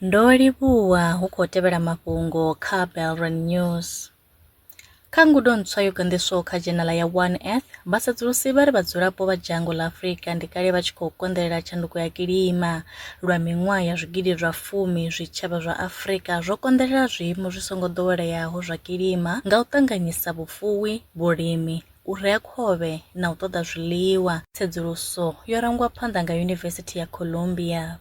Ndo livhuwa hu khou tevhela mafhungo kha Belron News. Kha ngudo ntswa yo ganḓiswaho kha dzhenala ya One Earth, vhasedzulusi vha ri vhadzulapo vha dzhango ḽa Afrika ndi kale vha tshi khou konḓelela tshanduko ya kilima. Lwa miṅwaha ya zwigidi zwa fumi, zwitshavha zwa Afrika zwo konḓelela zwiimo zwi songo ḓoweleaho zwa kilima nga u ṱanganyisa vhufuwi, vhulimi, u rea khovhe na u ṱoḓa zwiḽiwa. Tsedzuluso yo rangwa phanḓa nga Yunivesithi ya Columbia.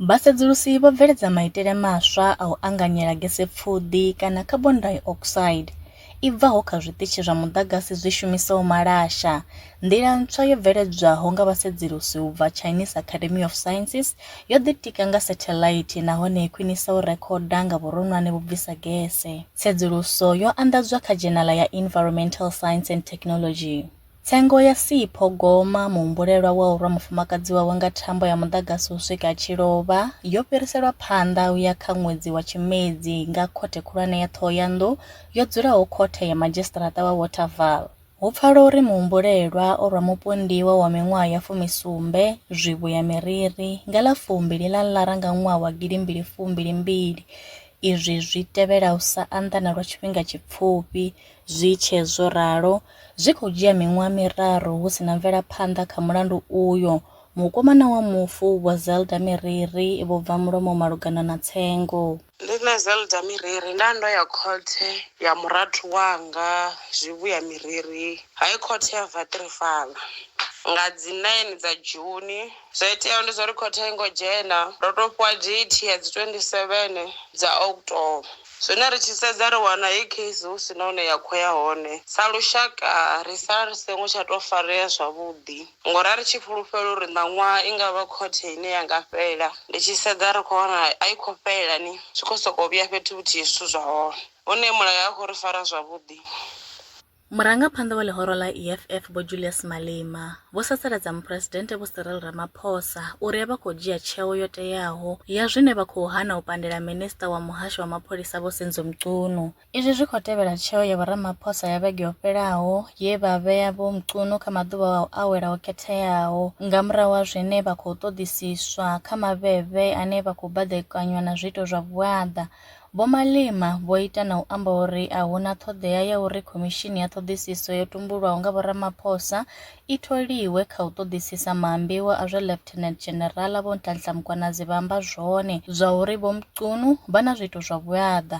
Vhasedzulusi vho bveledza maitele maswa a u anganyela gesepfuḓi kana carbon dioxide i bvaho kha zwiṱitshi zwa muḓagasi zwi shumisaho malasha. Nḓila ntswa yo bveledzwaho nga vhasedzulusi u bva Chinese Academy of Sciences Yo ḓitika nga setheḽaithi nahone i khwinisa u rekhoda nga vhuronwane vhu bvisa gese. Tsedzuluso yo anḓadzwa kha dzhenala ya Environmental Science and Technology. Tsengo ya Sipho Goma, muhumbulelwa wa u rwa mufumakadzi wawe nga thambo ya muḓagasi u swika a tshi lovha, yo fhiriselwa phanḓa u ya kha ṅwedzi wa Tshimedzi nga Khothe Khulwane ya Ṱhohoyanḓou yo dzulaho Khothe ya Madzhisiṱaraṱa wa Waterval. Hu pfala uri muhumbulelwa o rwa mupondiwa wa miṅwaha ya fumi sumbe, Zwivhu ya Miriri, nga ḽa fumbili ḽa Ḽara nga ṅwaha wa gidi mbili fumbili mbili. Izwi zwi tevhela u sa anḓana lwa tshifhinga tshipfufhi. Zwi tshe zwo ralo, zwi khou dzhia miṅwaha miraru hu si na mvelaphanḓa kha mulandu uyo. Mukomana wa mufu, Vho Zelda Miriri, vho bva mulomo malugana na tsengo. Ndi nṋe Zelda Miriri nda ndo ya khothe ya murathu wanga Zwivhuya Miriri High Court ya Vatrifala nga dzi 9 dza Juni. Zwo iteaho ndi zwa uri khothe a i ngo dzhena, ro tou fhiwa date ya dzi 27 dza October. Zwino ri tshi sedza ri wana heyi case hu si na hune ya khou ya hone. Sa lushaka ri sala ri songo tsha tou farea zwavhuḓi. Ngori a ri tshi fhulufhela uri ṋaṅwaha i nga vha khothe ine ya nga fhela. Ndi tshi sedza ri khou wana a i khou fhela ni, zwi khou sokou vhuya fhethu huthihi zwithu zwa hone. Hune mulayo a khou ri fara zwavhuḓi. Murangaphanḓa wa ḽihoro ḽa EFF Vho Julius Malema vho sasaladza Muphuresidennde Vho Cyril Ramaphosa uri a vha khou dzhia tsheo yo teaho ya zwine vha khou hana u pandela Minisiṱa wa Muhasho wa Mapholisa Vho Senzo Mchunu Izwi zwi khou tevhela tsheo ya vhoramaphosa ya vhege yo fhelaho ye vha vhea Vho Mchunu kha maḓuvha a u awela ho khetheaho nga murahu ha zwine vha khou ṱoḓisiswa kha maveve ane vha khou baḓekanywa na zwiito zwa vhuaḓa. Vho Malema vho ita na u amba uri a hu na ṱhoḓea ya uri khomishini ya ṱhoḓisiso yo tumbulwaho nga vhoramaphosa i tholiwe kha u ṱoḓisisa maambiwa a zwe Lieutenant General Vho Nhlanhla Mkhwanazi vha amba zwone zwa uri Vho Mchunu vha na zwiito zwa vhuaḓa.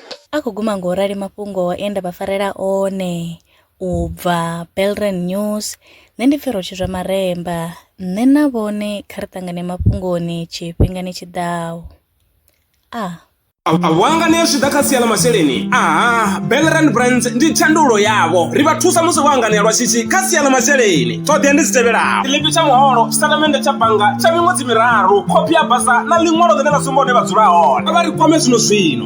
A khou guma ngo rali mafhungo e nda vha farela one u bva Belren News, nṋe ndi Pfero Tshizwa Maremba, nṋe na vhone kha ri ṱangane mafhungoni tshifhingani tshi ḓaho. A. A vho anganea zwi tshi ḓa kha sia ḽa masheleni? Aha, Belren Brands ndi thandululo yavho. Ri vha thusa musi vho anganea lwa shishi kha sia ḽa masheleni. Ṱhoḓea ndi dzi tevhelaho, tshiḽipi tsha muholo, tshitatamennde tsha bannga tsha miṅwedzi miraru, khophi ya basa na ḽiṅwalo ḽine ḽa sumba hune vha dzula hone. Kha vha ri kwame zwino-zwino.